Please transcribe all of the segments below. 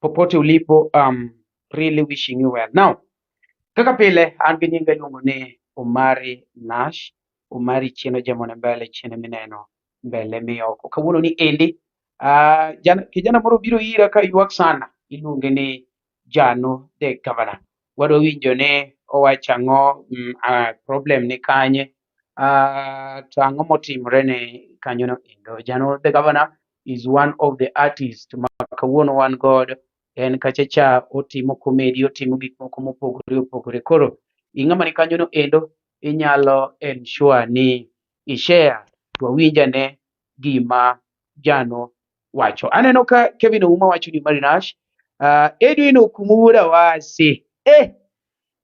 popote ulipo um, really wishing you well now kaka pile an gi nyinga iluongo ni Omari Nash Omari chieno jamone mbele chiene mineno mbele miyoko kawuono ni endi uh, jana, kijana moro biro ira ka ywak sana iluonge ni Jano the Governor wadwa winjo ni owacho ang'o mm, uh, problem ni kanye Uh, to ang'o motimre ne kanyono endo? Jano the governor is one of the artists ma kawuono wan god en kacha cha otimo komedi otimo gik moko mopogore opogore koro ing'ama ni kanyono endo inyalo ensure ni ishare to awinjane gima jano wacho aneno ka Kevin Ouma wacho ni Marinash uh, ah, Edwin Okumu wuod Awasi eh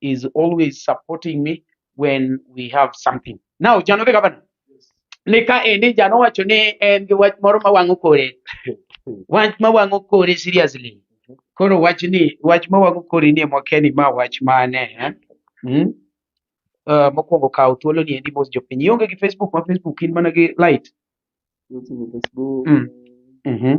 is always supporting me when we have something. Now, Jano the governor. Nika endi Jano wacho ni en gi wach moro ma wang'o kore. Wach ma wang'o kore seriously. Koro wach ni wach ma wang'o kore ni mwakeni ma wach mane. eh? Mm? Uh, mokwongo kawo thuolo ni endi mos jopiny. Ionge gi Facebook ma Facebook in mana gi light. Weche ni Facebook. Mm. Mhm.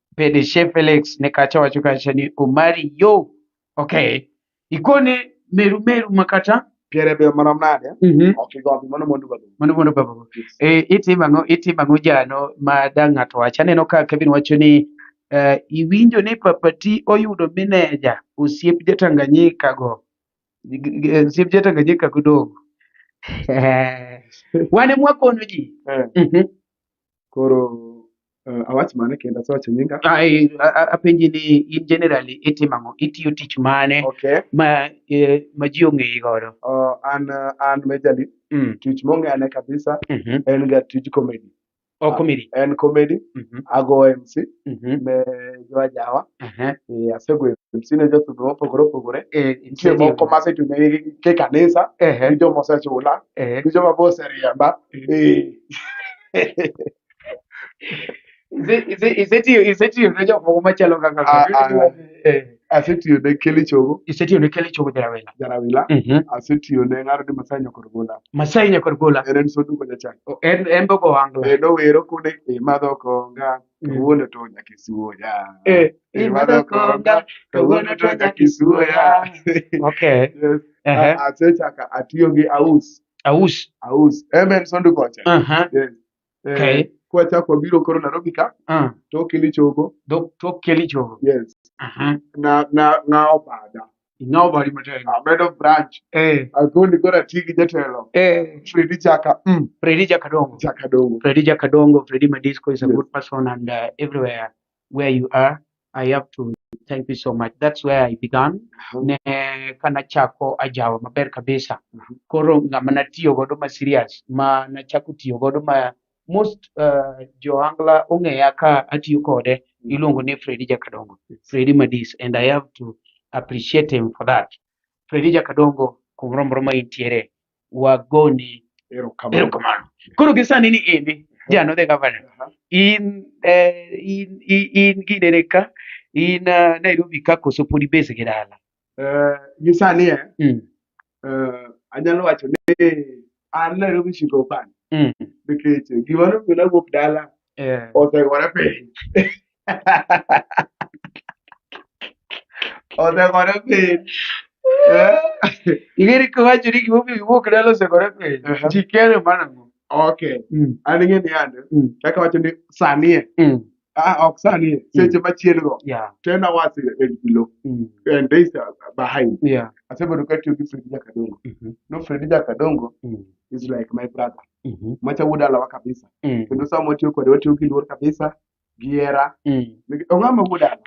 Pedeshe Felix ne kacha wacho kacha ni Omari yo. Okay. Ikone meru meru makata. Piere be marom nade? Mhm. Ok igombi mano mondo babu. Mano mondo babu. E, itimo ang'o itimo ang'o jano ma da ng'ato wach aneno ka Kevin wacho ni uh, iwinjo ni papati oyudo mineja osiep jatanganyika go G- g- osiep jatanganyika go dogo wane mwakono ji Eh, Mhm. Koro uh, awach mane kendo asewacho nyinga Ai, a- a- apenji ni in generally itimo ang'o itiyo tich mane okay ma eh, ma ji ong'eyi godo uh, an uh, an majali Mm, tich mong'ane kabisa mhm. en ga tij comedy o komedi en comedy Mhm, ago mc mhm, ne joajawa aha. eh, asego mc ne jothudho mopogore opogore Eh, nitie nitie moko moko ma masetune ke kanisa ehe gi joma osechula ehe gi joma be oseriemba Eh, Ise- ise- isetiyo isetiyo ne jok moko machalo kaka Ah, ah. Eh, asetiyo ne keli chogo isetiyo ne keli chogo jarawela jarawila asetiyo ne ng'aro ni masai nyakor gola masai nyakor gola en en soduko jachan O- en en be ogo angla kendo wero kude imadho konga Mm. kawuono to nyaka isuoya Eh, imadho konga kawuono to nyaka isuoya okay Yes. ehe A- asechaka atiyo gi aus aus aus en en soduko cha aha Yes. eh, okay. kwachako wabiro koro Nairobi ka uh. tok ilichogo tok kelichogo yes uh -huh. na na na obada inobari matek amedo branch eh akoni gora tigi jatelo eh Freddy Jaka mm Freddy Jaka Dongo Jaka Dongo Freddy Jaka Dongo Freddy Madisco is a yes. good person and uh, everywhere where you are i have to thank you so much that's where i began Mhm. ne kana chako ajawa maber kabisa Mhm. koro ng'ama natiyo godo ma serious ma nachako tiyo godo ma most uh, joangla ong'eya ka atiyo kode iluongo ni fredi jakadongo fredi madis and i have to appreciate him for that fredi jakadongo kumoro moro ma intiere wagoni Erokamano. erokamano koro gisani ni indi jano the governor Aha. in eh, in in- in ginene ka in ah, nairobi ka koso pod ibese gi dala Eh, gi sani eh, Mm, eh, anyalo wacho ni an Nairobi siko pan mm, nikech gimoro mina wuok dala eh, osegore piny Osekore piny. Eh? Ing'e ni kiwacho ni gimomiyo giwuok dala osekore piny, Aha. ji kere mana go. Okay. Mm, An ing'e ni yande, mm, kaka wacho ni sanie, mm. ah, ok sanie, seche machien go, Yeah, 10 hours and below, mm, and days are behind. yeah. Asebedo katiyo gi Fredi Jakadongo. Mhm, No, Fredi Jakadongo mm, is like my brother. mhm, Macha wuod alawa kabisa. mm, Kendo sama watiyo kode, watiyo gi luor kabisa. gihera Mm. Nik- ong'ama wuod an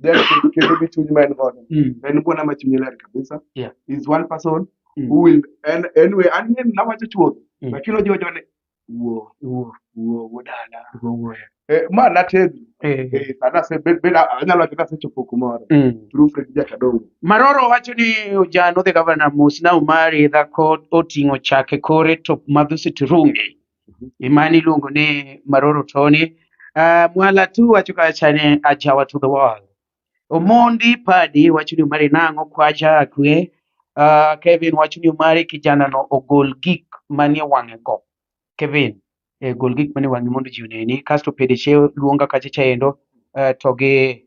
Then kendo- kendo gi chuny ma en godo Mm. en buona ma chunye ler kabisa Yeah. is one person Mm. who will and anyway an ne nawacho chuth Mm. lakini ojiwo jone wuo Wuo, wuo wuod ala wuo, wuo. eh, ma nategno Eh. eh, sana se bed bed anyalo wacho nasechopo kumoro Mm. through Fred Jakadongo Maroro wacho ni ojano the governor Musina Umari dhako oting'o chake kore to madhusi turungi. Imani iluongo ni Maroro Tony. Uh, Mwala tu wacho kacha ni ajawa to the world. Omondi Padi wacho ni umari nang'o kwacha akwe. Uh, Kevin wacho ni umari kijana no ogol gik manie wang'e go. Kevin eh, gol gik manie wang'e mondo ji oneni. Kasto Pedeshe luonga kacha chaendo uh, to gi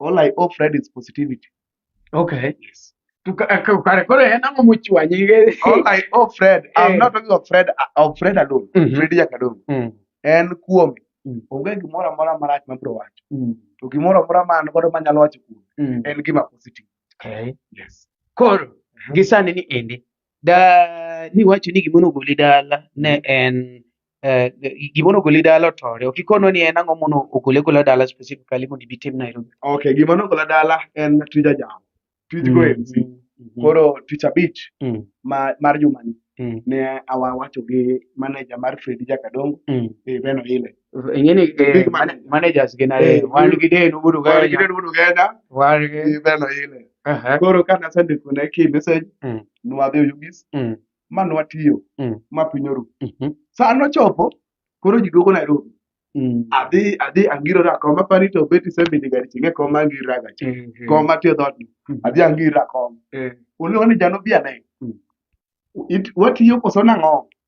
All I owe Fred is positivity. Okay. Yes. Tukarekore eh, namo muchwanyige. All I owe Fred, I'm eh. not talking of Fred, uh, of Fred alone. Mm -hmm. Fred Jakadong. Mm. En kuom mm. onge gimoro amora marach ma bro wacho. Mm. To gimoro amora ma an godo manyalo wacho kuom mm. en gima positive. Okay. Yes. Koro gisani ni endi da ni wacho ni gimono goli dala ne en eh, gimono goli dala otore ok ikono ni en ang'o mono ogole gola dala specifically mondo ibi tim Nairobi okay gima nogola dala en tij ajao tij go Mm, MC mhm, koro tich abich mm, ma, mar jumani mm, ne awawacho gi manager mar Fredi Jakadongo mm, eh, Beno Ile Ingeni eh, The big man- man- managers gin ariyo. Eh, Wan gi denu budu Wan gi ganya. denu budu ganya. Wan gi Gi beno ile. Aha. Koro ka nasendiko ne ki message, Mm. nwadhi Oyugis, Mm. ma nwatiyo, Mm. ma piny oru. Mhm. Sa nochopo, koro ji duogo Nairobi. Mm. Adhi, adhi angirore akom, apani to beti sebidi gari ching'e kom angira ga chi. Mhm. Kom atiyo dhot ni. Mm. Adhi angirore akom. Eh. Oluongo ni jano biane. Mm. It- Watiyo koso nang'o?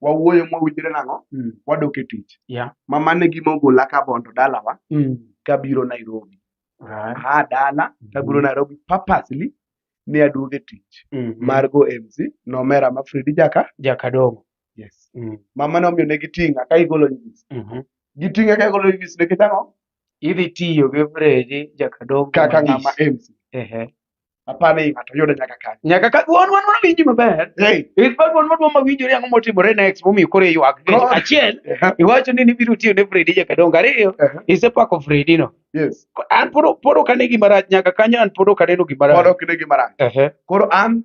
wawuoyo mowinjre nang'o Mm. wadok e tich Yeah. ma mane gima ogola ka bondo dalawa Mm. kabiro nairobi Right. aa dala kabiro Mhm. nairobi purposely ne aduogo e tich Mhm. mar go mc nomera ma fredi jaka Jakadogo. yes Mm. mama nomiyo ne giting'a ka igolo nyis Mhm. giting'a ka igolo nyis nikech ang'o Idhi tiyo gi Fredi Jakadogo. kaka Mathis. ng'ama mc Ehe. apane i ng'ato yude nyaka kanyo nyaka ka duon wan wanawinji maber hey. in fact wan wadwa mawinjore ang'o motimore next momiyo koro iywak God. achiel Aha, iwacho ni nibiro tiyo ne fredi jakadongo ariyo aha, isepako fredi no yes Ko- an pod pod ok ane gima rach nyaka kanyo an pod ok aneno gima pod rach ok ne gima rach Ehe, koro an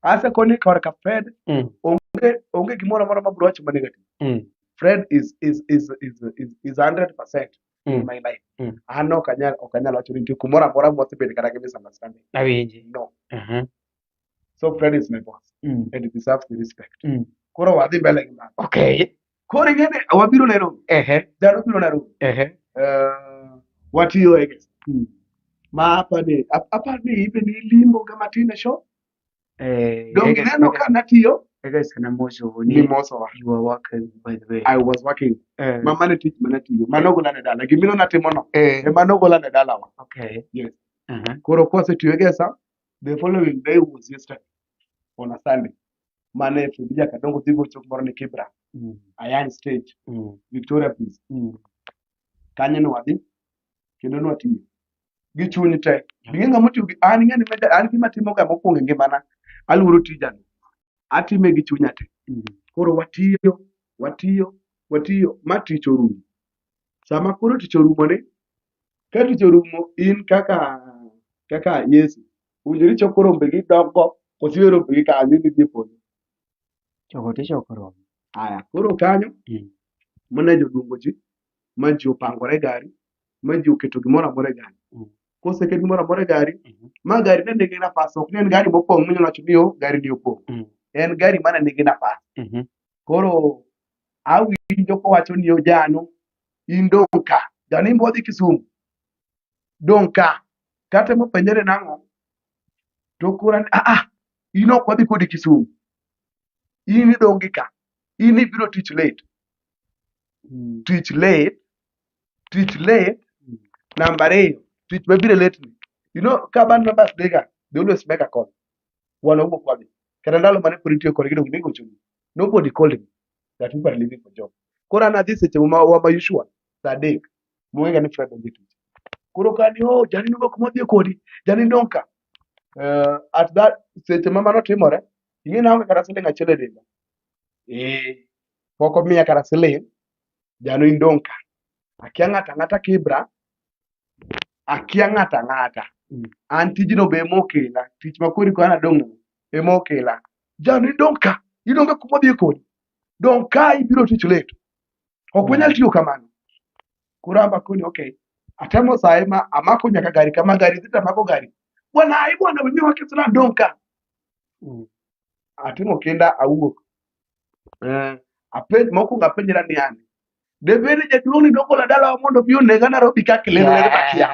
asekoni korka fred mm, onge onge gimoro amora ma bro wacho ma negative mm, fred is is is is is, is 100% Mm. Ngima ina Mm. an ok anyal ok anyal wacho ni nitie kumoro amora mwasebedo kata gi misunderstanding Awinji. no Aha. so Fred is my boss Mm. and he deserves the respect Mm. koro wadhi mbele gi mano Okay. koro ing'eni wabiro Nairobi Ehe. dhano biro Nairobi Ehe. uh, watiyo I guess Mm. ma apani ap- apani ibe ni limo kama tine show Eh, Donge Ega- ineno Ega- ka natiyo Ega sana moso ni ni mosowa. you are working by the way. I was working. Eh, Ma mane tich mane tiyo. Mano gola ne dala. Gimino natimo no. eh, E mano gola ne dala wa. okay. Yes. Uh-huh. Koro kose tiyo gi sa, the following day was yesterday on a Sunday. Mane Fidija Kadongo dhi gocho moro ni Kibra, Mm, Ayan Stage, mm, Victoria Place. mm. Kanyo ne wadhi kendo ne watiyo. gi chunyi te ing'e ng'ama otiyo gi an ing'e ni meda- an gima timo ga mokwongo e ngimana aluoro tijani atime gi chunya te koro watiyo watiyo watiyo ma tich orumo sama koro tich orumo ni ka tich orumo in kaka kaka yesu owinjore ichoko rombe gi dongo kosiwe rombe gi kanyo idhi dhi e polo Choko tichoko rombe. aya koro kanyo Mm. manager oluongo ji ma ji opangore e gari ma ji oketo gimoro amora e gari Mm. koseket gimoro amora e gari Mhm. ma gari ne nigi nafas ok ne en gari mopong' minyalo wacho ni o gari ni opong' Mm. en gari mana nigi nafas Mhm. koro awinjo kowacho ni ojano in dong' ka janimbo odhi kisumu dong' ka kata mopenjore nang'o to kora ni aa in ok wadhi kodi kisumu in idong' gi ka in ibiro tich late Mm. twitch late twitch late Mm. namba ariyo twitch mabiro late ni you know ka band members dey ga they always make a call wan owuok wadhi kata ndalo mane pod itiyo kodgi donge nigochoni nobody called me that people are leaving for job koro an adhi seche ma wa ma usual saa adek mong'ega ni fred onge tich koro ka ni oh jani nowuok modhi kodi jani donka uh, at that seche ma mano timore ing'e naonge kata siling achiel e denda eh pok omiya kata siling' jalo indong' ka akia ng'ato ang'ata kibra akia ng'ato ang'ata mm. an tijno be emokela tich makori ko an adong' emokela jalo indong' ka idong' ka kuma odhi kodi dong' ka ibiro tich late ok mm. wanyal tiyo kamano koro amba koni okay atemo saye ma amako nyaka gari kama gari dhi tamako gari bwana ai bwana wenyewe wakisira dong' ka mm. atimo kinda awuok Eh, apenj mokwongo apenjra ni an debed ni jaduong' ni nogola dalawa mondo obi onega Nairobi ka kilelo ne makia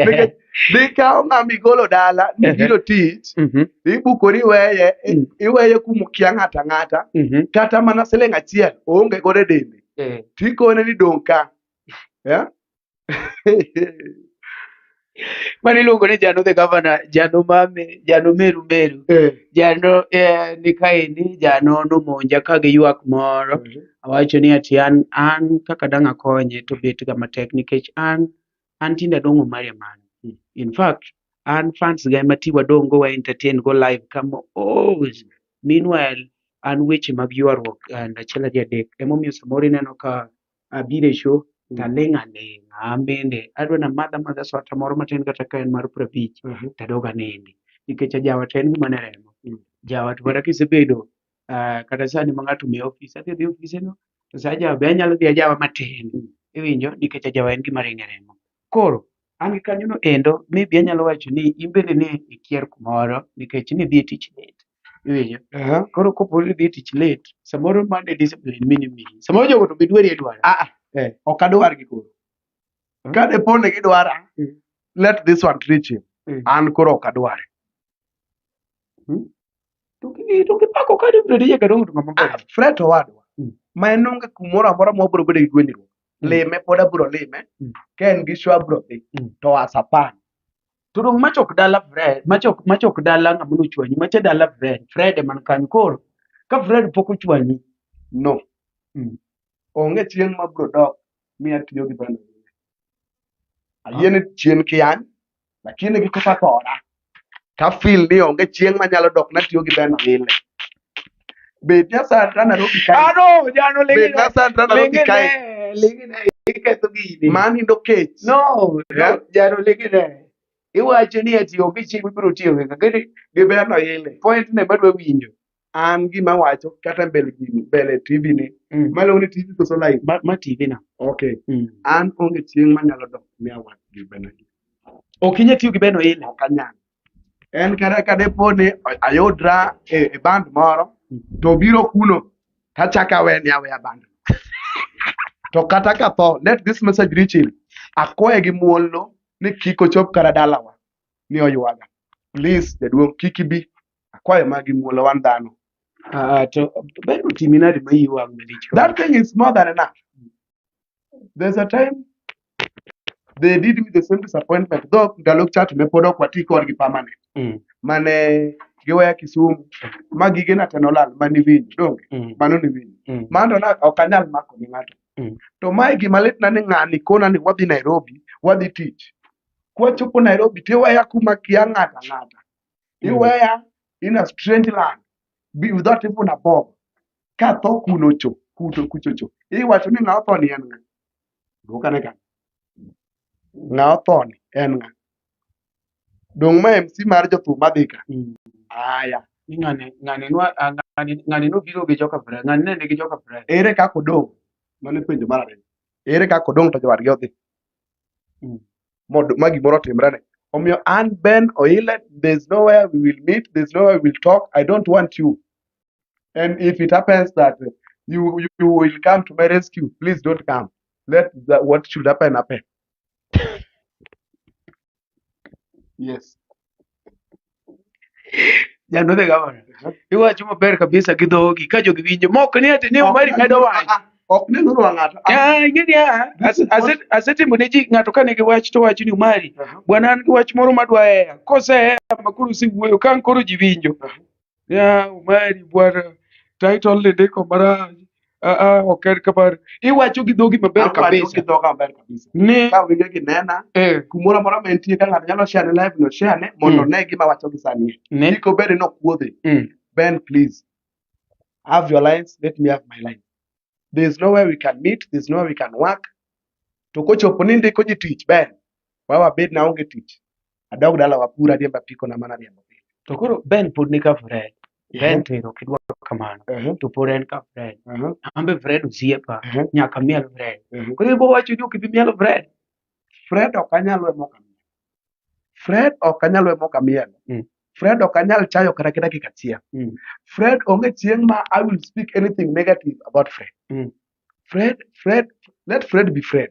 nikech nikawo ng'ama igolo dala ni Ehe. biro tich Mhm, ibukori iweye i- Mm. iweye kumukia ng'ata ng'ata mhm, kata mana siling' achiel oonge godo e dende eh, tikone ni dong' ka Eh? mane iluongo ni jano the governor jano mame jano meru meru Eh, jano eh, ni kaendi jano nomonja ka gi ywak moro awacho ni ati an an kaka dang' akonye to bet ga matek nikech an an tinde adong' omari amani Mm. in fact an fans ga ema ti wadong' go wa entertain go live kama os meanwhile an weche mag ywaruok and achiel ariyo adek emomiyo samoro ineno ka abire sho taling' aling'a amende adwa na madha madha swata moro matin kata ka en mar prabich Mhm. tadog anindi nikech ajawat en gima ne remo Mm. jawat kata kisebedo ah, kata sani ma ng'ato miyo ofis adhi dhi ofise no to sa ajawa be anyalo dhi ajawa matin iwinjo nikech ajawa en gima ringe remo koro an gi kanyono endo maybe anyalo wacho ni in bende ne ikier kumoro nikech nidhi e tich late iwinjo Aha. koro kopo ni dhi e tich late samoro mane discipline mini mini samoro jogo to gidwari e dwara Ah, ah. Eh. ok adwar gi koro ka dipo ni gidwara Mm. let this one reach him Mm. an koro ok adwar to gi- to gipako ka dibedi nyaka dong' to ng'ama Ah, ber. fred owadwa Mm. ma en onge kumoro amora ma wabiro bedo gi gwenyruok Mm. lime pod abiro lime Mm. ka en gi show abiro dhi Mm. to asapan to dong machok dala fred machok machok dala ng'ama nochwanyi macha dala fred fred eman kanyo koro ka fred pok ochwanyi no Mm. onge chieng' ma bro dok mi atiyo gi bana ayie ni chien kian lakini gi kaka thora ta feel ni onge chieng' ma nyalo dok natiyo gi bana ile Bed Nyasandra na robi kae. Ah no, jano lengi. Bed Nyasandra na robi kae. Lengi na iketho gini. Mani ndo kech. No, yeah. jano lengi na. Iwacho ni ati onge chieng' mibiro tiyo gi kagere gi berno ile. Point ne madwa winjo. An gima wacho kata mbele gini, mbele TV ni. Mm. Malo ni TV koso live. Ma, ma TV na. Okay. Mm. An onge chieng' manyalo dok mi awach gi bena. Ok inyetiyo gi beno ile. Ok anyalo. en kata ka depo ni ayudra e, e band moro to obiro kuno to achako awe ni aweya band to kata ka tho let this message reach him akwaye gi muolno ni kik ochop kara dalawa ni oywaga please jaduong' kik ibi akwaye ma gi muolo wan dhano Ah, to ber otimi nade ma iyi wang' malich kama? that thing is more than enough there's a time they did me the same disappointment though ndalo chat ne pod ok wati kodgi permanent mm. mane giweya Kisumu ma gige na teno lal mani winjo donge mm. mano ni winjo mm. mano na ok anyal mako ni ng'ato mm. to mae gima lit na ni ng'ani kona ni wadhi Nairobi wadhi tich kwachopo Nairobi tiweya kuma kia ng'ata ng'ata mm. iweya in a strange land without even a bob ka tho kuno cho kuto kucho cho iwacho ni ng'a otho ni en ng'a dwok ane kanyo ng'a otho ni en ng'a dong ma mc mar jothum madhi ka aya Ni ng'ane ng'ane nwa ah, ng'ane ng'ane nobiro gi joka Fred. Ng'ane ne nigi joka Fred. ere kaka odong' mane penjo mar ariyo ere kaka odong' to jowadgi odhi Mm. Mod- ma gimoro otimrene omiyo an ben oile there's nowhere we will meet there's nowhere we will talk i don't want you And if it happens that uh, you, you, you will come to my rescue, please don't come. Let the, what should happen happen. Yes. Janodhe gavana. Iwacho maber kabisa gi dhogi ka jogi winjo. Mok ni ati ni mari medo wach. Ah, ah, ok ne nuru ng'ato. Ah, ing'e ni ah, ase- ase- asetimo ne ji ng'ato kane gi wach to wacho ni umari. Aha. Bwana an gi wach moro madwa heya. Kosehea makoro usewuoyo ka ang' koro ji winjo. ya umari bwana title ni ndiko marach ah, ah, ok en kamano iwacho gi dhogi maber Awacho kabisa kidhoka maber kabisa ni ka winjo ginena eh, kumoro amora ma entie ka ng'ato nyalo share ne live no share ne mondo Mm. one gima wacho gi sani ne kik obed ni okuodhe mm, Ben, please have your lines. Let me have my line. There's nowhere we can meet. There's nowhere we can work. To kochopo ni ndiko ji tich, Ben, wawa bed na onge tich adog dala wapur ariemba piko na mana riembo pile to koro ben pod ni ka fred ben to ero kidwa kamano to pod en ka fred ambe fred osiepa nyaka miel fred koro ibo wacho ni ok ibi miel fred fred ok anyal we moka miel fred ok anyal we moka miel mm. Fred ok anyal chayo kata kida dakika achiel. Mm. Fred onge chieng' ma I will speak anything negative about Fred. Mm. Fred, Fred, let Fred be Fred.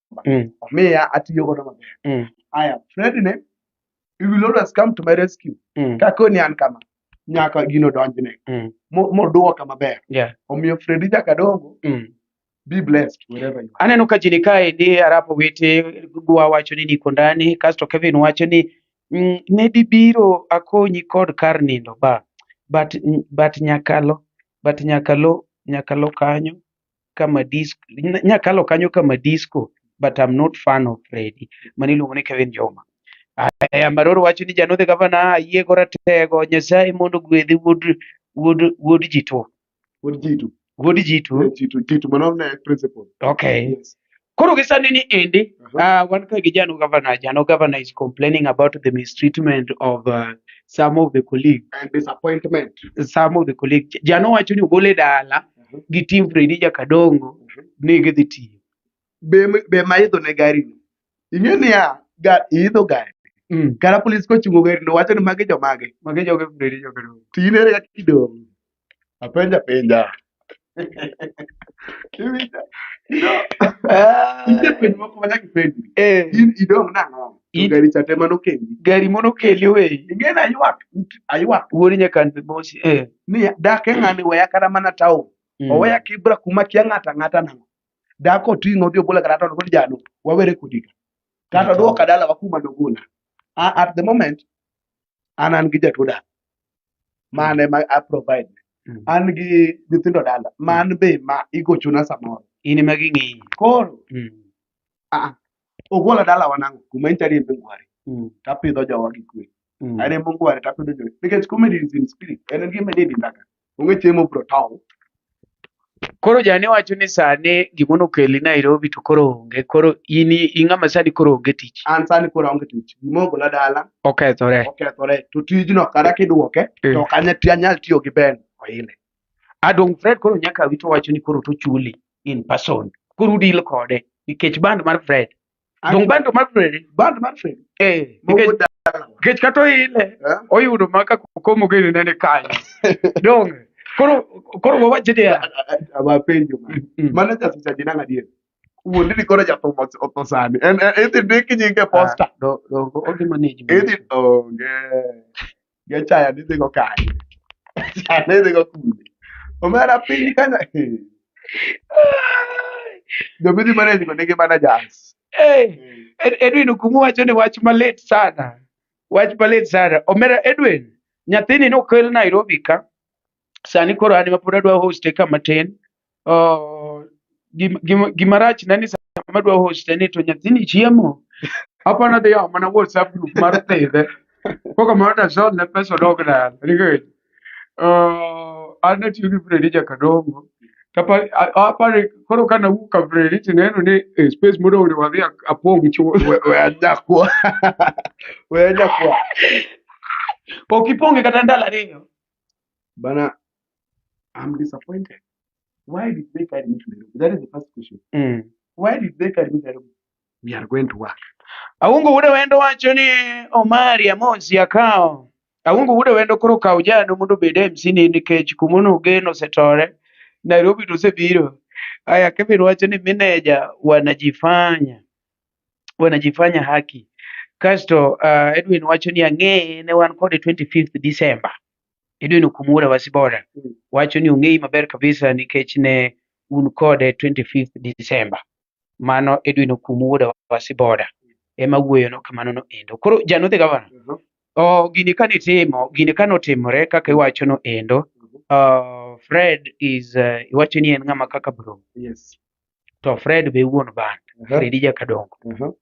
Mm. omiya atiyo godo maber Mm. aya fred ne you will always come to my rescue Mm. kakoni an kama nyaka gino donjne Mm. mo- moduoka maber Yeah. omiyo fredi nyaka dongo Mm. be blessed wherever you are aneno ka jini kae ni arapo wete gwa wacho ni niko ndani kasto kevin wacho ni mm, ne dibiro akonyi kod kar nindo ba but, but nyakalo but nyakalo nyakalo kanyo kama disco nya kalo kanyo kama disco but I'm not fan of Freddy mani iluongo ni Kevin Joma aya maroro wacho ni janodhe gavana ayie go ratego nyasaye mondo gwedhi wuod wuod wuod jito Wuod Jitu. wuod jito Eh, Jitu, Jitu, mano ne principal. okay Yes. Koro gi sani ni endi Mhm. uh, wan ka gi Jano Governor, Jano Governor is complaining about the mistreatment of uh, some of the colleagues. And disappointment. Some of the colleagues. Jano wacho ni ogole dala Mhm. gi team Freddy Jakadongo Mhm. ni gidhi tiyo. Be, be ma idho ne gari no. Ing'e niya, ga, idho gari. Mm. Kara polis kochungo gari no wacho ni magi jomage. Magi joge Freddy Jakadongo. Tinere kaka idong'. Apenja penja. Kiwinjo? Ah, Nitie penjo moko ma nyaka ipenjri. eh, In idong' nang'o? To In- gari cha te mano kendi. gari mono keli we Ing'e ni aywak, aywak wuod nyakan be mosi eh ni dak e ng'ani weya kata mana taon. mm. Oweya kibra kuma kia ng'ato ang'ata nang'o. Dak oting'o odhi obola kata taon kod jalo. Wawere kodi ka. Kata odwoka dalawa kuma nogola. A- At the moment, an an gi jatuo dak. mane ma a provide Mm. an gi nyithindo dala man be ma igochona samoro in ema ging'iyi koro Mm. ah, ogwala dala wanango kuma en chari embe ngwari Mm. tapidho jowa gi kwe Mm. are embe ngwari tapidho jowa nikech comedy is in spirit en en gima ni ndaka onge chiemo bro tow Koro jane wacho ni sane gimono keli Nairobi to koro onge. Koro in i- ing'ama sani koro onge tich. An sani koro aonge tich. Gima ogola dala Okethore. okethore to tijno kata kidwoke Mm. to ok anya- ti- anyal tiyo gi Ben Oile. Adong Fred koro nyaka wito wacho ni koro tochuli in person. Koro udil kode nikech band mar Fred Donge bando mar feri. Bando mar feri. Eh. Nikech kata oile eh? oyudo ma ka komo gini nene kanyo. Donge. Koro koro wawache dia. Awapenjo. Mano nyasi cha dinanga dia. Wuondi ni koro jathum otho sani. En idhi ndik nyinge posta. Ah, do do ogi manage. Idhi onge. Gachaya ne dhigo kanye? Gachaya ne dhigo kune? Omera piny kanya. Jomidhi manage go nigi mana jazz. Hey, Ed- Edwin Okumu wacho ni wach malit sana. Wach malit sana. Omera Edwin, nyathini nokel Nairobi ka. sani koro an mapod adwa hoste ka matin oh, gim- gim- gima rach na ni sama adwa hoste ni to nyathini chiemo apa nadhi yawo mana whatsapp group mar pidhe koko mar dasol ne pesa odog dala nikech oh, an natiyo gi Fredi Jakadongo kapa a- apare koro ka nawuok ka Fredi tineno ni eh, space modong' ni wadhi a- apong' chuth We- we anyakwa. We anyakwa. ok ipong'e kata ndalo ariyo Bana, I'm disappointed. Why did they carry me to Nairobi? That is the first question. Mm. Why did they carry me to Nairobi? We are going to work. Aungu ude wendo wacho ni Omari Amonsi akawo. Aungu ude wendo koro kawo jano mondo obed MC ni nikech kuma nogeno osetore. Nairobi to osebiro. Aya Kevin wacho ni mineja wanajifanya. wanajifanya haki. Kasto uh, Edwin wacho ni ang'eye ne wan kode 25th December. Edwin Okumura Wasibora wacho ni ong'eyi maber kabisa nikech ne un kode 25th December. Mano Edwin Okumura Wasibora ema wuoyono kamano no endo. Koro janodhi gavana, Mhm. oh, gini kane itimo, gini kane otimore kaka iwacho no endo, uh, Fred is uh, iwacho ni en ng'ama kaka bro. Yes. to Fred be wuon band uh -huh. Fredi Jakadongo uh -huh.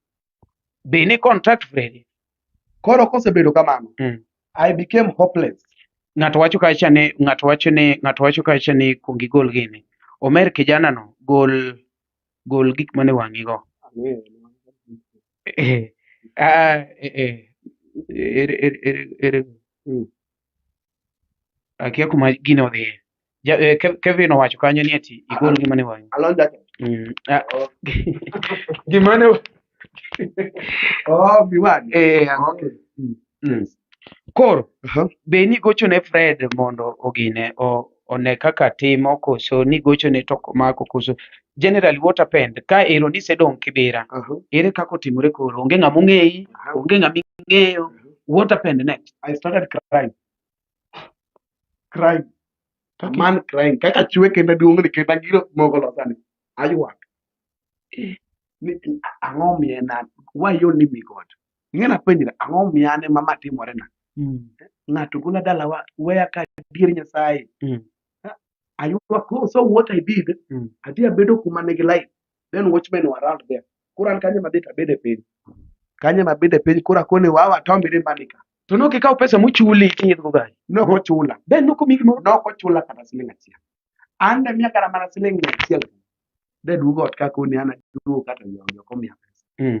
be ni contact Fredi koro kosebedo kamano mm. I became hopeless ng'ato wacho kacha ni ng'ato wacho ni ng'ato wacho kacha ni kuong igol gini omer kijana no gol gol gik mane wang'i go eh, ah, eh, eh, er, er, er, er, er. Mm. akia kuma gino odhiye Ja- eh, Kev- kevin owacho kanyo ni ati igol gima ne wang'i Alon jacket. Mm, ah, gima ne Oh, Biwan. eh, ah, Okay. mm. koro Aha. be nigochone fred mondo ogine o- one kaka timo koso nigochone to komako koso generally what happened ka ero ni sedong kibira uh -huh. ere kako timore koro onge ng'ama ong'eyi uh -huh. onge ng'ama ing'eyo uh -huh. what happened next i started crying crying okay. man crying kaka chwe kenda duong ni kenda giro mogo losani ayuak eh. ni ang'o miye na why you need me god ing'e napenjira ang'o miye ane ma ma timore na mm. ng'ato gola dalawa weya ka dier nyasaye mm. aywak oh, so what i did Mm. adhi abedo kuma nigi light then watchmen were around there koro an kanye mabet abede piny kanye mabede piny koro akone wawa tombire manika to ne ok ikawo pesa mochuli kinyidhgo gari nok ochula be ne ok omi gimoro nok ochula kata siling achiel an ne miya kata mana siling mia achiel de duogo ot kakoni an aduogo kata nyonyo komiya pesa Mm.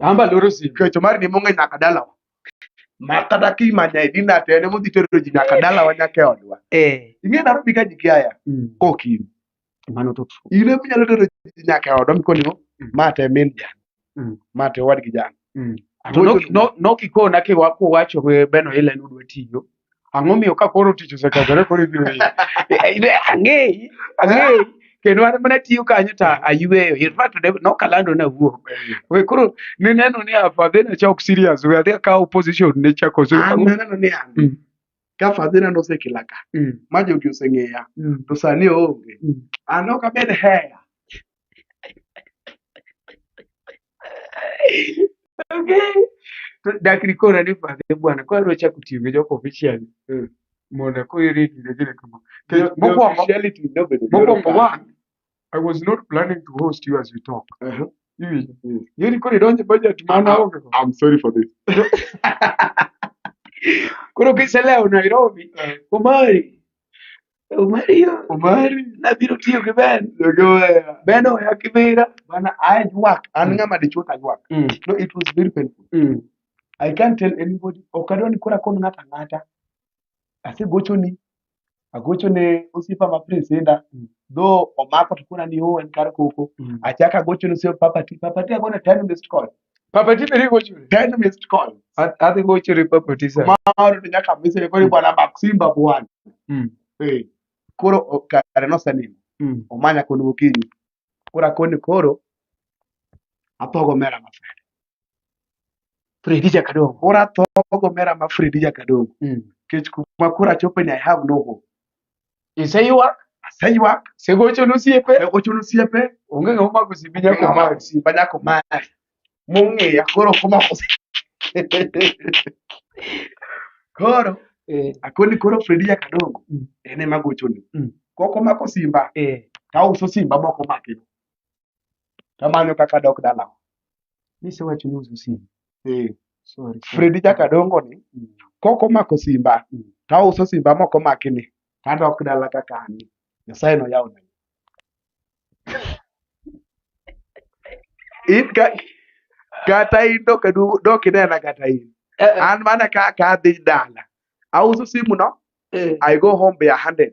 Amba loro simu. Kecho mar ni monge nyaka dalawa. Ma kata ki manya idina tene mo dhi tero ji nyaka dalawa nyaka odwa. Eh. Ing'e na rubi ka ji kiaya. Mm. Kokin. Mano to true. Ile mi nyalo tero ji nyaka odwa mi koni mm. ma te min ja. Mm. Ma te wad gi ja. Mm. To no no no kikona ke waku wacho beno ile nudwe tiyo. Ang'o miyo ka koro tich osekethore koro ibiro yie? Eh, eh, Ang'eyi, ang'eyi. Kendo an mana tiyo kanyo to ayueyo. In fact, ne- nokalando nawuok. We koro nineno ni afadhe nachok serious. We adhi akawo position ne chako so. An naneno ni an Mm. ka fadhina nosekela ka Mm, ma jogi oseng'eya mm, to sani oonge mm. an ok abed heya okay. Dakri kora ni pade bwana kwa rocha kutiyo jo official. Mm. Mona ko iri kile kile kama. Mokwongo reality no bedo. Mokwongo one I was not planning to host you as we talk. Uh -huh. You, mm. you nilikuwa nidonje budget maana hoge. I'm sorry for this. Kuna kisa leo Nairobi. Uh. Kumari. Omario. Omari. Nabiro tiyo gi Ben. Dogoya. Ben oya kibira. Bana I work. An mm. ngama dichuo ta work. Mm. No it was very painful. Mm. I can't tell anybody. Okadwa ni kora kon ngata ngata. Ase gocho ni. Agocho ne osipa ma prince enda. Mm. Though omako to kuna ni ho en kar koko. Mm. Achaka gocho ni osipa papa ti. Papa ti agona time missed call. Papa Tipe riko churi. Ten missed call. Adhi go churi Papa Tipe. Kumaro to nyaka mise ne kori bwana Maximba bwana. Mm. Eh. Koro kare no sanin. Mm. Omanya koni gokinyi. Kora koni koro athogo mera ma Fredi. Fredi Jakadongo. Koro athogo mera ma Fredi Jakadongo. Mm. Kech kuma koro achopo ni I have no hope. Iseyuak, Aseyuak, segochon osiepe, ne ochuno osiepe, onge ng'ama omako simbi nyako nyako mari. mari, ba nyako mari. Mong'eya koro komako si- Koro Eh, akoni koro Fredi nyaka dongo. Mm. En ema gochoni. Mm. Kok omako simba, Eh, tauso simba moko make. tamanyo kaka dok dalawa nisewacho ni uso simu eh sorry Fredi chaka dongo ni Mm. kok omako simba Mm. tauso simba mok omaki ni tadok dala kaka an ni nyasaye noyawo na in ka kata in dok adu- dok inena kata in Eh, eh, an mana kaka adhi dala auso simu no eh, i go home be ahanded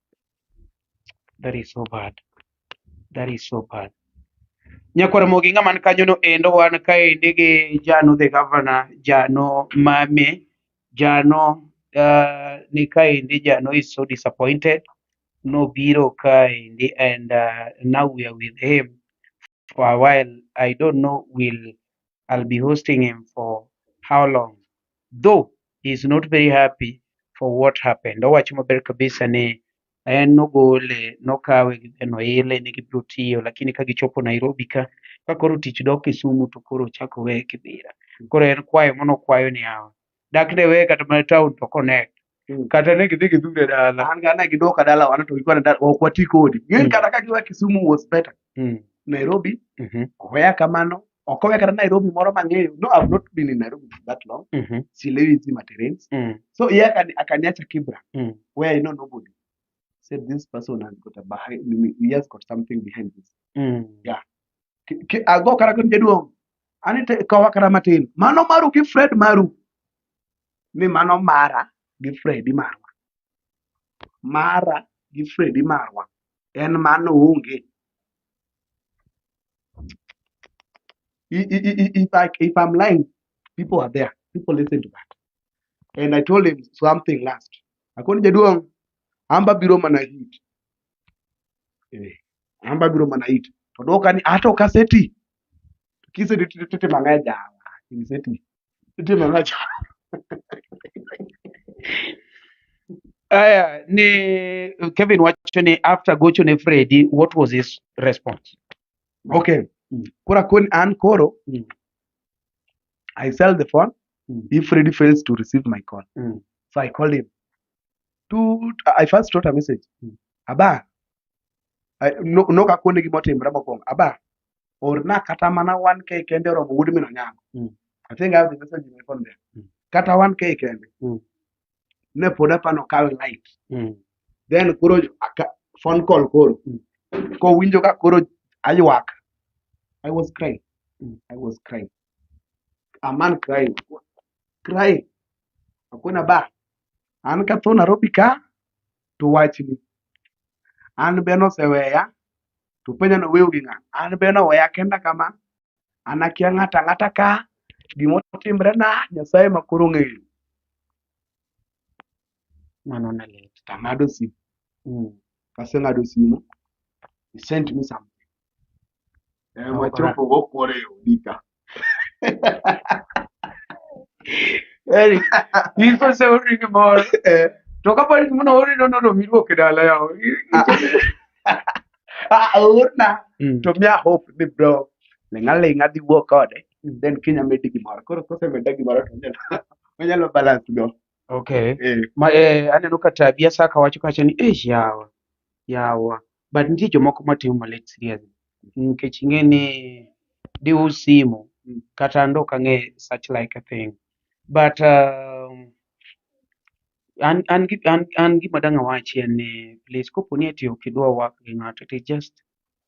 That is so bad. That is so bad. Nyakwar Mogi ng'ama ni kanyono endo wan kaendi gi Jano the governor, Jano Mame, Jano uh, ni kaendi Jano is so disappointed. Nobiro kaendi and uh, now we are with him. for a while. I don't know will I'll be hosting him for how long. Though he's not very happy for what happened. Owacho maber kabisa ni en nogole nokawe gi noile ne gibiro tiyo lakini ka gichopo Nairobi ka ka koro tich dok Kisumu to koro ochako weye Kibira. Koro en kwayo mano kwayo ni hawa dak ne weye kata mana town to connect Mm. kata ne gidhi gidhure dala an gana gidoka dala wana to gikwana dala ok wati kodi ng'eny Mm. kata ka giwa kisumu was better Mm, nairobi mhm, oweya kamano ok oweya kata nairobi moro mang'eyo no i've not been in nairobi for that long mhm, silewi hizi materials mm, so ye akani- akaniacha kibra mm, where i know nobody said this person has got a behind he has got something behind this mm. Yeah. Ki- ki- ago kara kun jaduong ani te- kowa kata matin mano maru gi fred maru ni mano mara gi fredi marwa mara gi fredi marwa en mano onge I- i- i- i- if, I, if i'm lying people are there people listen to that and i told him something last akoni jaduong' amba biro mana hit eh, amba biro mana hit to dwoka ni ato kaseti kisedhi titimo ang'o e jala kiniseti itimo ang'o e jala aya ni kevin wacho ni after gocho ne fredi what was his response okay mm. kora kon an koro mm. i sell the phone mm. if fredi fails to receive my call mm. so i called him to i first wrote a message mm. aba Ai, no- nok akone gima otimre mokwongo aba orna kata mana wan kae kende oromo wuod min onyango Mm. i think i have the message in my phone there Mm. kata wan kae kende Mm. ne pod apano kawe light Mm. then koro aka- phone call koro Mm. kowinjo ka koro aywak i was crying Mm. i was crying a man crying crying akona ba an ka tho nairobi ka to wachni. An be noseweya, to penja noweyo gi ng'a? An be noweya kenda kama, an akia ng'ato ang'ata ka gima otimrena Nyasaye ma koro ong'eyo. Mano ne lit. To ang'ado simu. Mm. Kaseng'ado simu, he sent me something. Eh, wachopo go kwore e odi ka. Yaani, hizo shauri ni moro Eh, to ka bali muna ori no no mi ruok e dala yao ah, aorna. Mm. To mia hope ni bro. Lenga lenga di wuok kode. Then Kenya medi gimoro. Koro kose meda gimoro to onyalo onyalo balance go. okay Eh, ma eh, aneno ka tabia saka wacho kacha ni eh yawa yawa but nitie jomoko matimo malit serious nikech ing'e ni diu simu kata ndo kang'e such like a thing but um, an, an, gi- an, an gima dang' awachi en ni please kopo ni ati ok idwa work gi ng'ato to just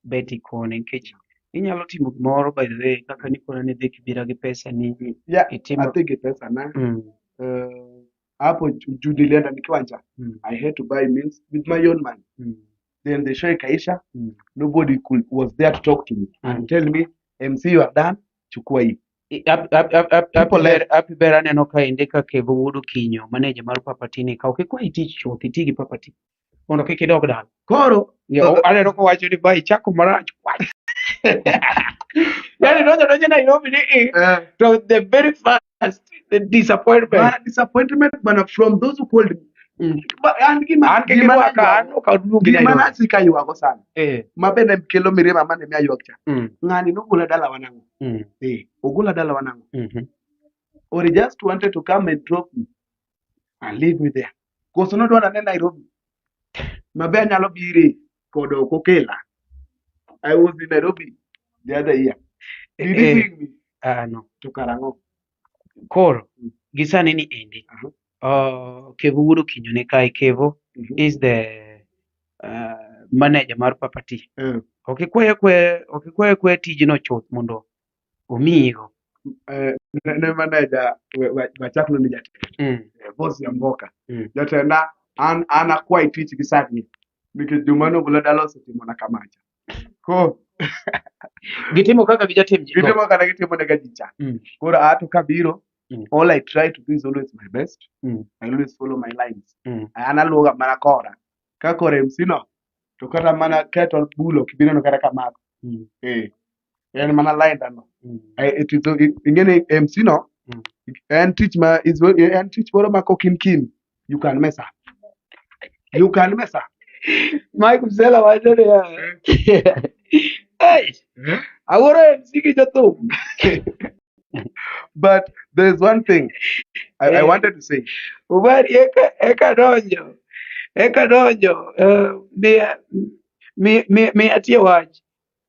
bet ikone nikech inyalo timo gimoro by the way kaka nikona ni dhi kibira gi pesa ni Yeah, itimo adhi gi pesa na mm, eh, hapo ju- juu nilienda nikiwa njaa Mm. i had to buy meals with my own money Mm. then the show ikaisha Mm. nobody could, was there to talk to me Mm. and tell me mc you are done chukua hii Ap- ap- ap- ap- People api ber- api ber aneno ka inde ka kevo wuod okinyo maneja mar papatini ka ok ikwa itich chuth itigi papati mondo kik idog dala koro Yo, aneno kowacho ni ba ichako marach wach yani donjo donjo nairobi ni i eh, to the very first the disappointment bana disappointment bana from those who called me Mm. Ba- an gima an kik gima irwaka an naywago- ok aduogi gima nairobi nasi ka ywago sana Eh, ma bende kelo mirima mane mi aywak cha mm, ng'ani nogola dalawa nang'o mm, eh, ogola dalawa nang'o mhm, or he just wanted to come and drop me and leave me there. Koso nodwa nane Nairobi. Maber nyalo bire kod ok okela. I was in Nairobi the other year. Did you Eh, bring me Ah, no. to Karang'o? Koro, gisani ni endi. Aha. Uh, Kevo wuod Okinyo ne kae. Kevo Mhm. is the uh, manager mar Papa T. Eh, Ok ikwaye kwe, ok ikwaye kwe tijno chuth mondo omiyigo eh, ne maneja wachak noni jatenda mm. eh, bos ya mboka mm. jatenda an an akwai tich gi sani nikech juma nobula dala osetimona kamacha ko gitimo kaka gijatim gitimo kaka gitimo ne gajicha mm. koro ato kabiro Mm. All I try to do is always my best. Mm. I always follow my lines. Mm. An aluwoga mana kora. Ka kora MC no, to kata mana kettle bulo kibineno kata kamako. Mm. Eh. en mana laida no Mm. Eh, it is the- it- ing'e ni mc no Mm. en tich ma is very- en tich moro ma kokin kin you can mess up you can mess up Mike Msela wacho ni Hey, Eh? awuoro MC gi jothum. but there is one thing I, I Eh. wanted to say Ubari eka eka donjo. Eka donjo. eh, Miya mi- mi- miya tie wach.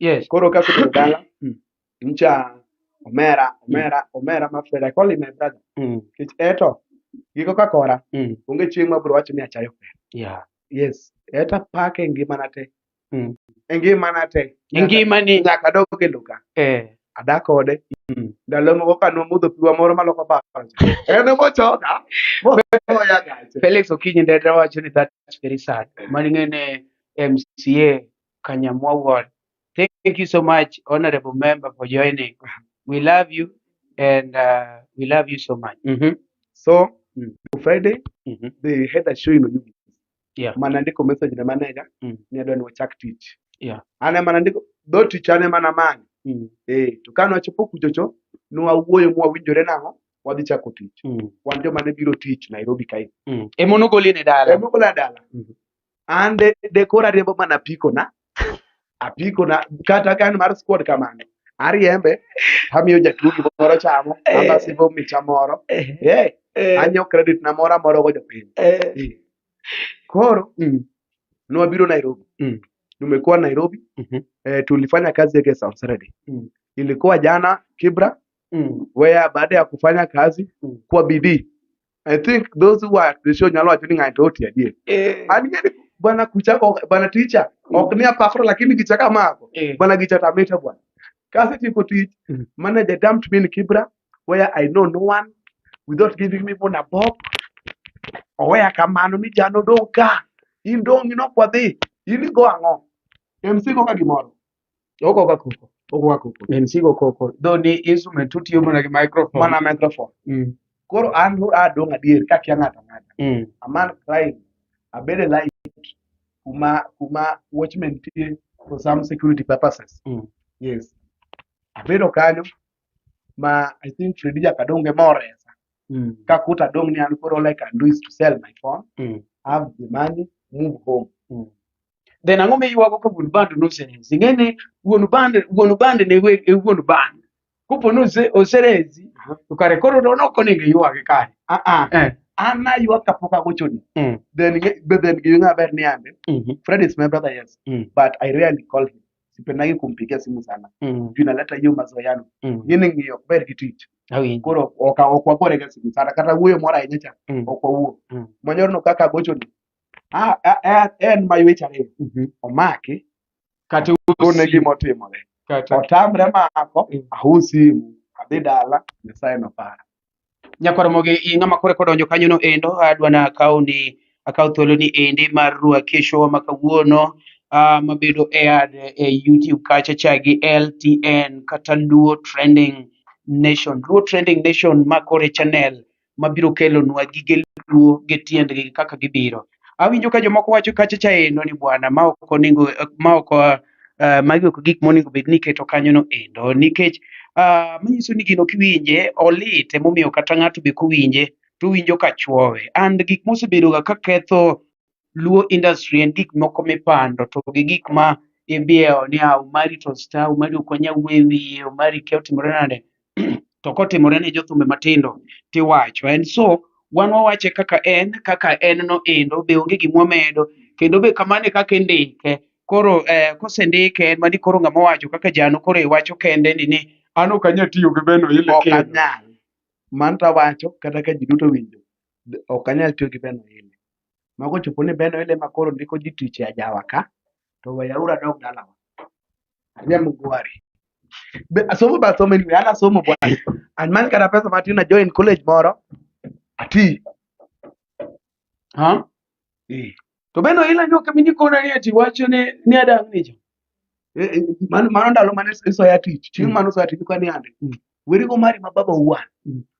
Yes. Koro ka asebedo dala, Mm. ncha omera, omera, omera ma fed. I call him my brother. Mm. Kech eto, giko ka kora, Mm. onge chieng' ma bro wacho ni achayo fed. Yeah. Yes. Eta pak e ngimana te. Mm. E ngimana te. E ngimani. Nyaka adog e loka. Eh. Adak kode. Mm. Ndalo moko ka nwamodho piwa moro maloko paro. En ema ochoka. Moya gache. Felix Okinyi Ndera wacho ni that's very sad. Mani ng'e ne MCA Kanyamwa Ward. Thank you so much, Honorable Member, for joining. We love you and uh, we love you so much. Mm -hmm. So, mm. Friday, mm -hmm. they had a show in Oyugis. Yeah. Manandiko message na manager, mm. ni adwa ni wachak tich. Yeah. Ana manandiko, do tich ane mana mani. Mm. Eh, to kano achopo kuchocho, nuwa uwoyo mwa winjore nango, wadhi chako tich. Mm. Wan joma ne biro tich Nairobi kae. Mm. Emono goli ne dala. Emono goli ne dala. Mm -hmm. an de, de koro ariembo mana apikona apikona kata ka en mar squad kamano ariembe amiyo jatuo gimoro chamo Eh. ambasivo micha moro Eh, Eh, eh, anyo credit na moro amoro go jopiny eh, Eh. koro mm, nwabiro nairobi Mm. tumekuwa nairobi Mhm. eh, tulifanya kazi yake South Saturday Mm. ilikuwa jana kibra mm, wea baada ya kufanya kazi Mm. kwa bidii I think those who are at the show nyalo wacho ni ng'ato oti adier. Eh, An ng'eni bwana kucha ko- bwana ticha ok ni apafra lakini gicha kamako. eh, Bwana gicha tamita bwana. Kasi tiko tich Mm. manager dumped me in Kibra where I know no one without giving me even a bob. Oweya kamano ni jano dong' ka. In dong' inok wadhi. In igo ang'o? MC go ka gimoro. Oko ka koko. Oko ka koko. En sigo koko. Though ni instrument tutiyo mana gi microphone. Mana microphone. Mm. Koro an adong' adier ka kia ng'ato ang'ata. Mm. Aman crying. Abede like kuma kuma watchman tie for some security purposes. Mm. Yes. Abedo kanyo ma I think Freddy Jakadonge more mm. kakuta dong' ni an koro like I do is to sell my phone mm. have the money move home mm. then ang'o miywago ka wuon bando noserezi ing'e ni wuon bando wuon bando ne we- e wuon bando kopo ni ose- oserezi to kare koro to ok onego iywage kare Ah, ah. Eh, an aywak kapok agochoni mm, then nge- but then giwinjo maber ni ande mhm, fred is my brother yes mm, but i rarely call him sipendagi kumpigia simu sana mm, juu inaleta hiyo mazoeano mm. ngine ng'iyo ok ber gi tich Awinjo. koro oka- ok wagorega simu sana kata wuoyo moro ahinya cha Mm. ok wawuo Mm. mwanyorno kaka agochoni Ah, ah, ah, en mayweche ariyo Mhm. omaki Kata kone gima otimore kata otamre mako Mm. ahu simu adhi dala nyasaye nopara nyakoromogi i ng'ama kore kodonjo kanyono endo adwa na akaw ni akaw thuolo ni endi mar rua kesho ma kawuono ah, mabedo e ad e youtube kacha cha gi ltn kata luo trending nation luo trending nation ma kore channel mabiro kelonwa gige luo gi tiendgi kaka gibiro. Awinjo ka jomoko wacho kacha cha endo ni bwana ma ok onego ma ok uh, magi ok gik monego bed ni iketo kanyono endo nikech uh, manyiso ni gino kiwinje olit emomiyo kata ng'ato be kowinje to winjo ka chwowe and gik mosebedoga ka ketho Luo industry en gik moko mipando to gi gik ma ibiewo ni ah, Omari to star, Omari ok wanyal wuoye wiye, Omari kia otimore nade. to kotimore ne jothumbe matindo tiwacho. And so wan wawache kaka en, kaka en no endo be onge gima wamedo kendo be kamano e kaka indike. Koro eh, kosendike en mani koro ng'ama owacho kaka jano koro iwacho kende ni ni an ok anyal tiyo gi beno ile ok kendo. anyal. Mano to awacho kata ka ji duto winjo. Ok anyal tiyo gi beno ile. Mago ochopo ni Ben Oile ma koro ndiko ji tich e ajawa ka, to weyauru adog dalawa. Anya Mugwari. Be asomo ba somo anyway, an asomo bwana. An man kata pesa matin na join college moro. Ati. Ha? Eh. To Ben Oile nyo kemi ni kona ni ati wacho ni ni adang ni jo. Eh, eh, Mano mano ndalo mane isoya tich. Chieng' Mm. mano isoya tich kwa ni ande. Mm. Weri go mari ma baba uwan. Mm.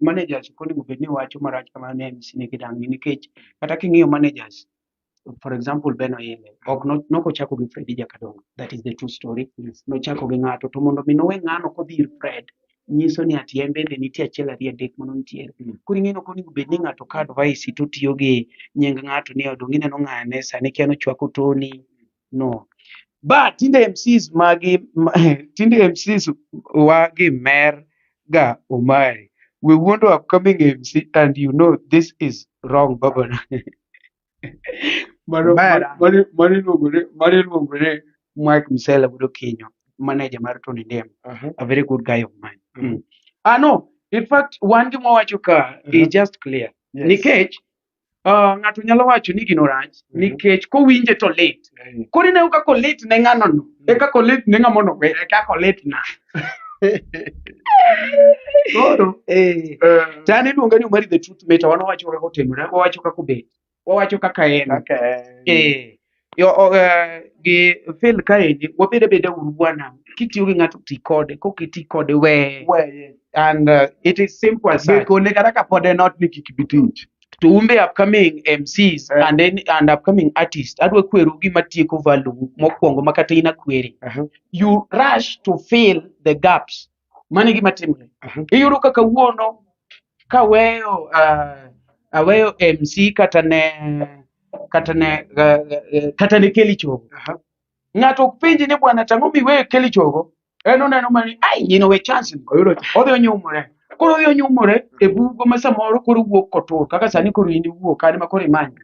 managers ok onego bed ni wacho marach kamano ne MC ni kidangi nikech kata king'iyo managers for example Ben Oyele ok no- nok ochako gi Fred Jakadongo that is the true story Yes. nochako gi ng'ato to mondo mi nowe ng'ano kodhi ir Fred nyiso ni ati en bende nitie achiel ariyo adek mano nitiere Mm. koro ing'e ni ok onego bed ni ng'ato ka advice to tiyo gi nying ng'ato ni odong' ineno ng'ane sani kia nochwako Tony no ba tinde mcs magi ma- tinde mcs wa gi mer ga omari we wuondo upcoming mc and you know this is wrong babana mano Bera. mano mano iluongore mano iluongore mike msela budo kinyo manager mar tony ndem Aha. a very good guy of mine Mhm. mm. ah no in fact wan gima wacho ka Mhm. is just clear Yes. nikech Ah, ng'ato nyalo wacho ni gino rach Mhm. nikech kowinje to lit Eh, koro ineno kaka olit ne ng'ano no e kaka olit ne ng'ama onowe e kaka olit na koro eh, eh, to an iluonga ni omari the truth meta wan wawacho kaka otimore wawacho kaka obet wawacho kaka en kaka en. eh, Yo, o, eh, gi Phil kaendi wabed abeda uru bwana kitiyo gi ng'ato ti kode kok iti kode weye Weye. and uh, it is simple as that. Gikone kata ka pod en ot ni kik bi tich. to umbe upcoming MCs Eh. and then and upcoming artists adwa kweru gima tieko value mokwongo ma kata in akweri Uh-huh. you rush to fill the gaps mano e gima timore Mhm. iyudo ka kawuono kaweyo uh, aweyo mc kata ne kata ne uh, uh, kata ne keli chogo Aha. ng'ato ok penji ni bwana tang'o miweyo keli chogo en oneno mani ai nyino we chance ni." Oyudo cha. odhi onyumore koro odhi onyumore e bugo ma samoro koro wuok kotur kaka sani koro in iwuok kani ma koro imanyo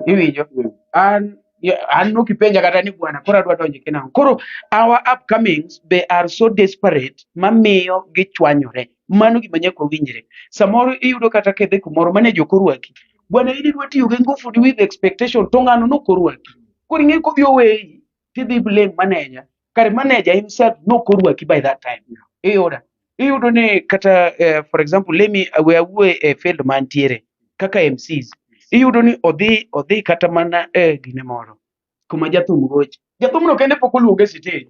iwinjo Mm. an ya- an nokipenja kata ni bwana koro adwa donjo kina ang'o?" koro our upcomings they are so desperate mamiyo gichwanyore mano gima nyaka owinjre samoro iyudo kata kedhe kumoro mane jokorwaki bwana in idwa tiyo gi ngufu with expectation to ng'ano nokorwaki koro ing'e kodhi oweyi kidhi blame manager kare manager himself nok orwaki by that time iyuda iyudo ni kata eh, for example let me we awuoye e field mantiere kaka mcs iyudo ni odhi odhi kata mana e gine moro kuma jathum goche jathumno kende pok oluonge e sitej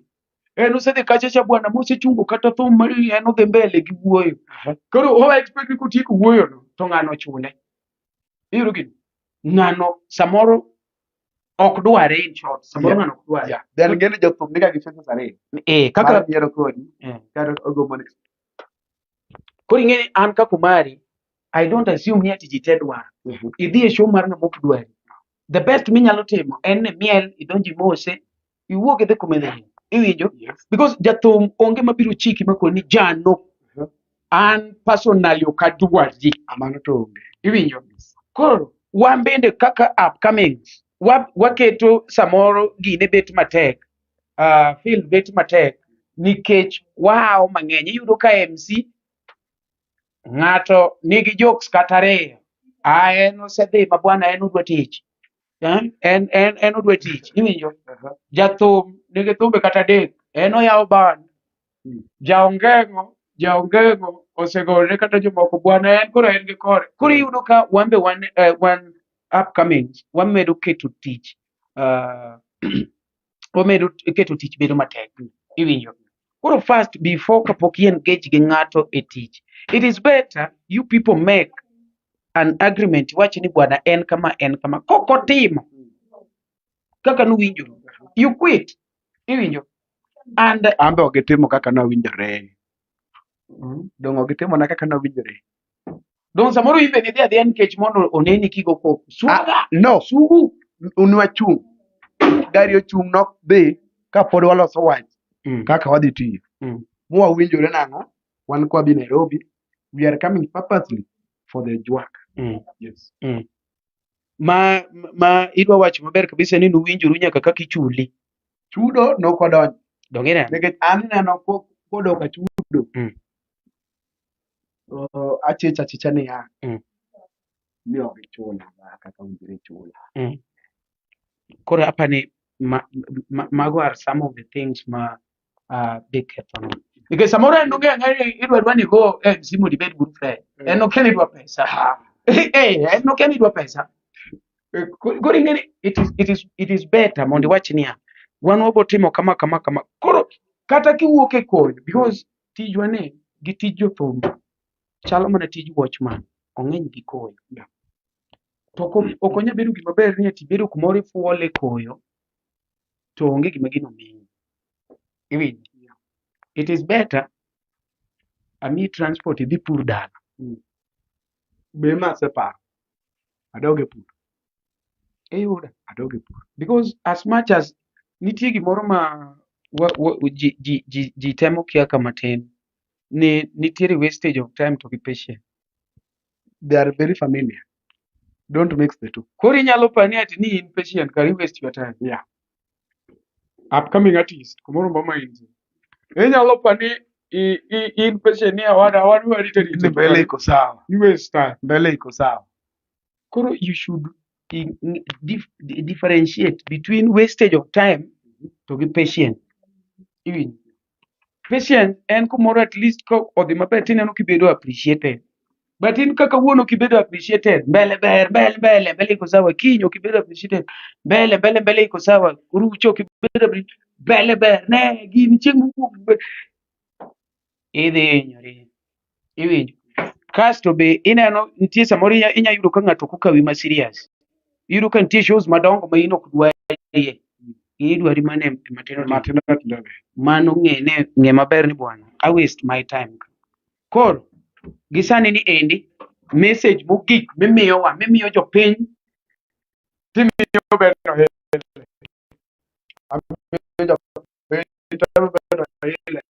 en osedhi kacha cha bwana mosechungo kata thum mar en odhi mbele gi wuoyo koro o expect ni kotieko wuoyono to ng'ano chule iyudo gini ng'ano samoro ok dware in short samoro Yeah. ng'ano ok dware Yeah. Then ng'enyne jothum niga gi choices ariyo. eh kaka Mar yiero kodi eh. kata ogombo ni koro ing'e an ka kumari i don't assume ni ati ji te dwaro Mhm. idhi e show mar ng'ama ok dwari the best minyalo timo en ni miel idonji mose iwuog idhi kuma idhi iwinjo Yes. because jathum onge mabiro chiki makoni ni jano Mhm. an personally ok adwarji Amano to onge. iwinjo koro wan bende kaka upcoming wa, waketo samoro gine bet matek uh, field bet matek nikech wahawo mang'eny iyudo ka mc ng'ato nigi jokes kata ariyo a en osedhi ma bwana en odwa tich Eh? en en en odwa tich iwinjo Aha. jathum nigi thumbe kata adek en oyawo ban Mm. jaongengo jaongengo osegolne kata jomoko bwana en koro en gi kore koro iyudo ka wan be wan eh, wan upcoming wamedo keto tich ah, omedo keto tich bedo matek iwinjo koro first before kapok i engage gi ng'ato e tich it is better you people make an agreement iwachi ni bwana en kama en kama kok otimo kaka nuwinjo you quit iwinjo and an be ok gitimo kaka nawinjore dong' ok gitimona kaka nawinjore Don samoro in bende idhi adhiya nikech mondo oneni kigo koko. Ah, Suga, no sugu. un wachung' gari ochung' nok dhi ka pod waloso wach Mm. kaka wadhi tiyo Mm. mwawinjore nang'o wan kwa bi nairobi we are coming purposely for the jwak Mm. yes. Ma ma idwa wacho maber kabisa ni nuwinjoru nyaka kaka ichuli. chudo nokodonjo Donge neno? nikech an neno ko- kodok achudo Mm. Oh, achicha achicha niya Mm. ni ok ichula ma kaka owinjore ichula koro apani ma, ma, mago are some of the things ma uh, big kethono nikech samoro en onge ang'e ni idwa dwa ni ko eh, simu dibed good friend Mm. en okia ni idwa pesa eh, en okia ni idwa pesa Eh, ko- koro ing'e ni it is, it is, it is better mondo iwach niya wan wabotimo kama kama kama koro kata kiwuok e koyo because tijwa ni gi tij jothum chalo mana tij watchman, ong'eny gi koyo. To ok onyal bedo gima ber ni ati ibedo kumoro ifuole koyo to onge gima gino miyi. Iwinjo? It is better amiyi transport idhi pur dala. Be ma aseparo. adog e pur iyuda adog e pur because as much as nitie gimoro ma wa, wa, ji, ji, ji, ji temo kia ka matin ni nitiere wastage of time to be patient they are very familiar don't mix the two koro inyalo pani ati ni in patient kari waste your time yeah upcoming artist kumoro mba mainzi inyalo pa ni i- i- in peshe ni awada awadu arite Ni rite mbele iko sawa you waste time mbele iko sawa koro you should in- in- dif- di- differentiate between wastage of time to gi patient iwinjo patience en kumoro at least ka odhi maber tineno kibedo appreciated but in kaka wuon ok ibedo appreciated mbele ber mbele mbele mbele iko sawa kiny ok ibedo appreciated mbele mbele mbele iko sawa rucho ok ibedo appre- mbele ber ne gini chieng' mowuok be- idhi hinyori iwinjo kasto be ineno nitie samoro inya inya yudo ka ng'ato kokawi ma serious iyudo ka nitie shows madongo ma in ok dwarie in idwari mana e e matindo tindo matindo tindo be mano ng'e ne ng'e maber ni bwana i waste my time ka." koro gi sani ni endi message mogik mimiyowa mimiyo jopiny timiyo bedo hile amiyo jopiny temo bedo hile